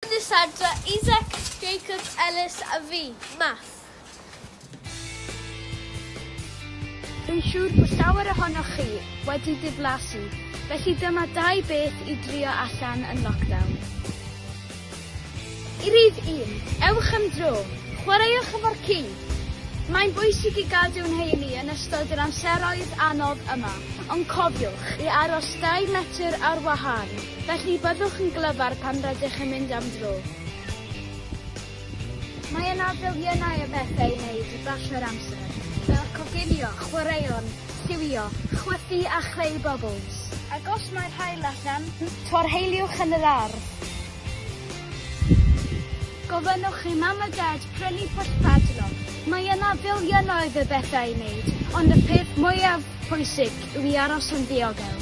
Cydnabyddiadau Isaac Jacobs Ellis a fi, Math. Dwi'n siŵr bod llawer ohonoch chi wedi diflasu, felly dyma dau beth i drio allan yn lockdown. I rif un, ewch am dro, chwaraewch efo'r ci! Mae'n bwysig i gadw'n heini yn ystod yr amseroedd anodd yma, ond cofiwch i aros dau metr ar wahân. Felly byddwch yn glyfar pan rydych yn mynd am dro. Mae yna filiynau o bethau i wneud i basio'r amser, fel coginio, chwaraeon, lliwio, chwythu a chreu bobls. Ac os mae'r haul allan, torheiliwch yn yr ardd. Gofynnwch i'm mam a dad prynu pwll padlock. Mae yna filiynau o bethau i wneud, ond y peth mwyaf pwysig yw i aros yn ddiogel.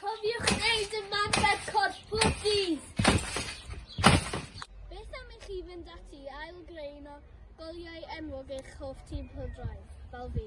Cofiwch wneud ymarfer corff pob dydd! Beth am i chi fynd ati i ail-greu un o goliau enwog eich hoff tîm pêl-droed, fel fi?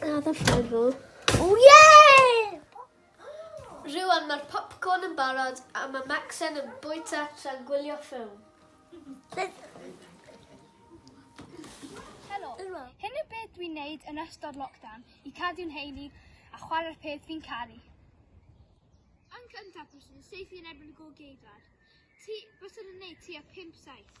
A dda ffair fo. O ie! Rwy'n mae'r popcorn yn barod a mae Maxen yn bwyta tra'n gwylio ffilm. Helo. Hyn yw beth dwi'n neud yn ystod lockdown i cadw'n heini a chwarae'r peth fi'n caru. Yn cyntaf, bys yn seifi yn erbyn y gol geidwad. Ti, bys yn neud ti a 5-7.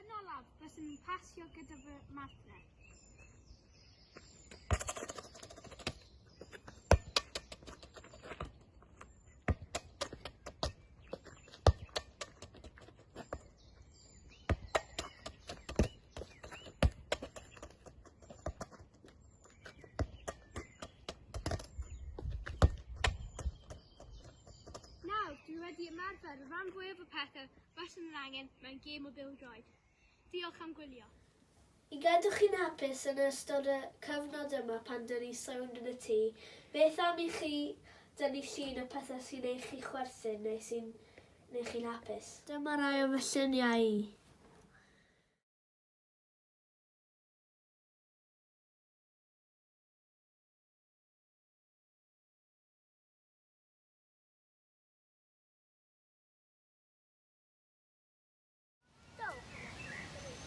Yn olaf, rydyn ni'n pasio gyda fy martner. Nawr, dwi wedi ymarfer rhan fwyaf y pethau Baswn yn angen mewn gêm o bêl-droed. Diolch am gwylio. I gadw chi'n hapus yn ystod y cyfnod yma pan dyn ni sownd yn y tŷ, beth am i chi dynnu llun o pethau sy'n neu chi chwerthin neu sy'n neu chi'n hapus. Dyma rai o fy lluniau i.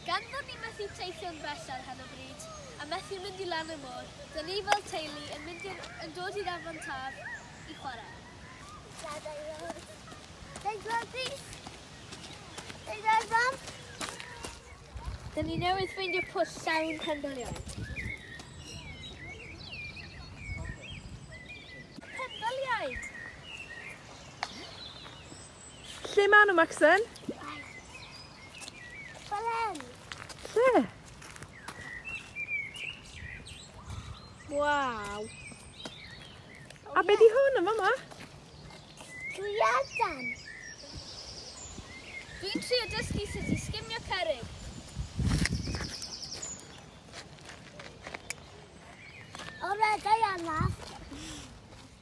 Gan fod ni methu teithio'n bell ar hyn o bryd, a methu mynd i lan y môr, dyn ni fel teulu yn mynd i'r, yn dod i'r afon taf i chwarae. Dadau fawr. Deg fawr di. Deg fawr fam. Dyn ni newydd ffeindio pwll llawn pendylion. Pendyliaid! Lle maen nhw, Maxen? Fel hyn. Lle? Waw. A be di hwn yn fama? Gwiadan. Dwi'n trio dysgu sut i sgimio cerig. O'r edrych anaf.